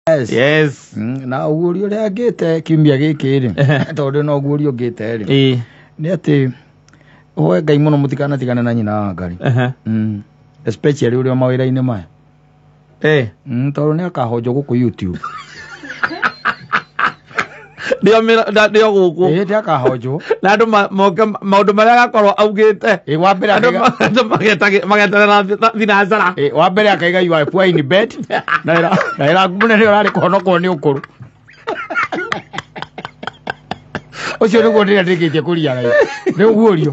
yes. yes Mm, na ũguũri ũrĩa ngĩte kiumia gĩkĩ rĩ tondũ na ũguũri ũngĩte rĩ ĩ nĩ atĩ hoe ngai mũno mũtikanatigane na nyina wa ngari aha Mm, especially ũrĩa mawĩra-inĩ maya eh Mm, tondũ nĩ akahonjwo gũkũ youtube nĩo mĩra- na- nĩo gũkũ ĩhĩ ndĩ akahonjwo na andũ ma- moke maũndũ marĩa agakorwo augĩte ĩ wa mbere andũ akaiga- ma- andũ magetage- mageterera thi- thinacara ĩ, wa mbere akaiga you are poor in bed na ĩra- na ĩra mũnene ũrarĩ kũhonokwo nĩ ũkũrũ ũcio nĩguo ndĩrĩa ndĩkĩtie kũria gai nĩ ũguũrio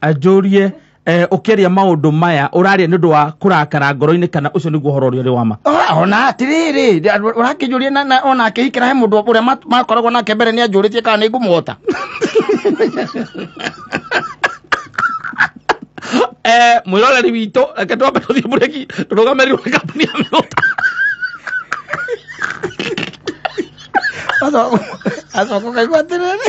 anjũrie eh, ũkĩaria maũndũ maya ũraria nĩ ũndũ wa kũrakara ngoro-inĩ kana ũcio nĩguo ũhoro ũrĩa ũrĩ wa ma Ora- ona atĩrĩrĩ ũrakĩnjũria na- na- ona akĩhikĩra he mũndũ ũrĩa ma- makoragwo nake mbere nĩ anjũrĩtie kana nĩ ngũmũhota eh, mwĩroreri witũ reke twambe tũthiĩ mũreki tũrũgamĩrĩ rwa kambuni ya mĩgũta acoka kaigua atĩrĩrĩ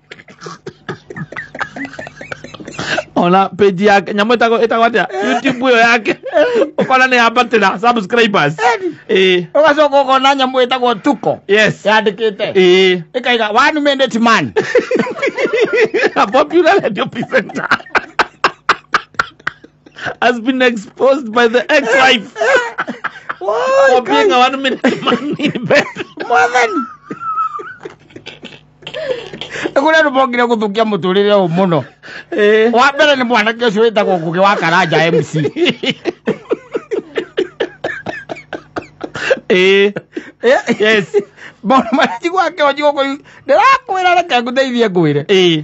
ona page yake nyamå ĩtagwo ĩtagwo atä youtube ĩyo yake ũkona nä yambatĩra subscribers ĩĩ ugacoka ukona nyamu itagwo tuko yes yandikite ĩĩ ikaiga one minute man a popular radio presenter has been exposed by the ex-wife Why? for being a one-minute man in bed. mwathani kuria rubongire guthukia muturire uyu muno Eh. wa mbere ni mwanake ucio witagwo ngugi wa karanja mc Eh. yes maundu maria njiguaga kionji guku ndirakwira reke nguteithie ngwire Eh.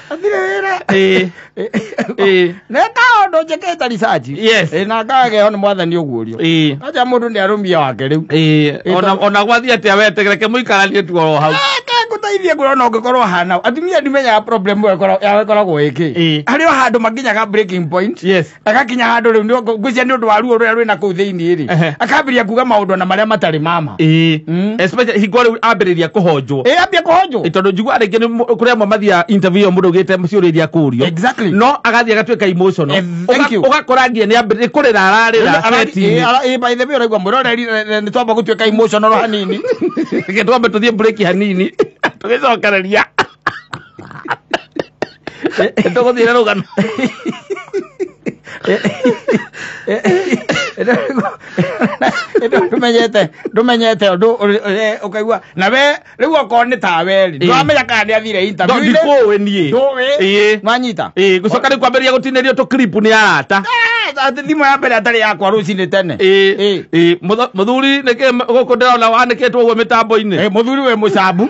athire wĩra Ĩĩ. Ĩĩ. neka ũndũ njĩkĩte research Yes. Ĩ, na ngageo nĩ mwathani ũguũrio Ĩĩ. aja mũndũ nĩ arũmia wake rĩu Ĩĩ. Ona- ona gwathiĩ atĩa wetegereke mũikaranie tu oro hau ngũteithie ngwĩrona ũngĩkorwo hana atumia ndimenyaga problem ĩyo ĩkoragwo- yao ĩkoragwo ĩkĩ Ĩĩ. harĩ o handũ makinyaga breaking point Yes. agakinya handå rä u ngwĩcia nä å ndå wa ruo rå rä a rwä na kå u thä inä Ehe. rä akambä ria kuga maå ndå na marä a matarä mama ĩĩ Mm. especially hingo rĩu ambĩrĩria kũhonjwo ä ambia kå honjwo Ĩ, tondå njiguaga rĩngĩ nĩ mũ- kũrĩ amwe mathiaga interview ĩyo mũndũ ũgĩte ciũria iria kũrio Exactly. no agathiĩ agatuĩka emotional Eh, thank Ũga- you. ũgakora nginya nĩ ambĩrĩria kũrĩra ararĩra seti-inĩ. å raigua mwä roreri nä twamba gå tuä ka hanini Reke twambe tũthiĩ break hanini tũgĩcokereria Esto con dinero ganó. rumenyete rumenyete undu ukaigua na we riu okorwo ni tawe ri ndwamenya kana ni athire interview-inĩ. ndikũĩ niĩ Ndũĩ? Ĩĩ. nwanyita Ĩĩ, gũcoka rĩu kwambĩrĩria gũtinĩrio tũ clip nĩ arata Ah, ati thimũ ya mbere atarĩ yakwa rũcinĩ tene Ĩĩ, Ĩĩ. ĩĩ, mũtho- mũthuri nĩkĩ gũkũ ndĩrona wanĩkĩtwo ũguo mĩtambo-inĩ Eh, mũthuri we mũcambu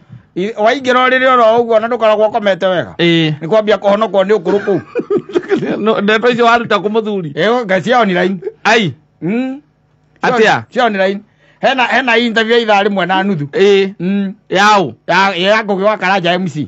I- waingĩra ũrĩrĩ oro ũguo na ndũkoragwo ũkomete wega ĩĩ nĩ kwambia kũhonokwo nĩ ũkũrũ kũu No, ndeto icio waruta kũ mũthuri ĩyo ngai cia online ai Mm. Atĩa? cia online hena hena interview ya ithaa rĩmwe na nuthu ĩĩ Mm. yaũ ya ya ngũgĩ wa karanja mc